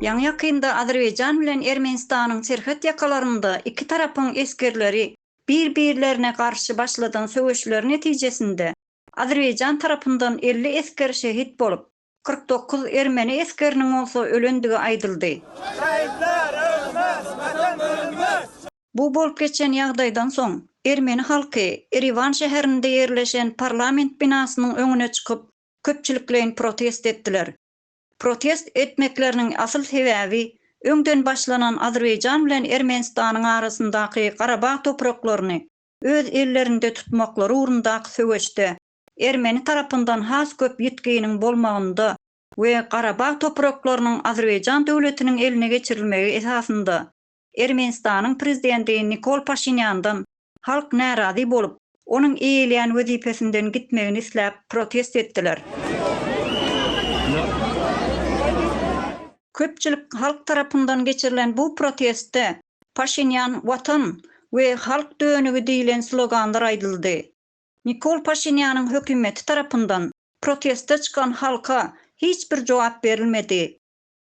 Ýaňy-ýakynda Azerbaýjan bilen Ermenistanyň serhet ýakalarynda iki tarapyň esgerleri bir-birlerine garşy başladan söweşleri netijesinde Azerbaýjan tarapyndan elli esger şehit bolup, kyrk dokuz ermeni esgeriniň bolsa ölendigi aýdyldy. Şehitler ölmez, Watan bölünmez! Bu bolup geçen ýagdaýdan soň, ermeni halky Eriwan şäherinde ýerleşen parlament binasynyň öňüne çykyp, köpçülikleýin protest etdiler. Protest etmekleriniň asyl sebäbi öňden başlanan Azerbaýjan bilen Ermenistanyň arasyndaky Garabag topraklaryny öz ellerinde tutmaklary ugrundaky söweşde ermeni tarapyndan has köp ýitginiň bolmagynda we Garabag topraklarynyň Azerbaýjan döwletiniň eline geçirilmegi esasynda Ermenistanyň prezidenti Nikol Paşinýandan halk närazy bolup, onuň eýeleýän wezipesinden gitmegini isläp protest etdiler. Köpçülik halk tarapyndan geçirilen bu protestde Paşinýan Watan we Halk dönügi diýlen sloganlar aýdyldy. Nikol Paşinýanyň hökümeti tarapyndan proteste çykan halka hiç bir jogap berilmedi.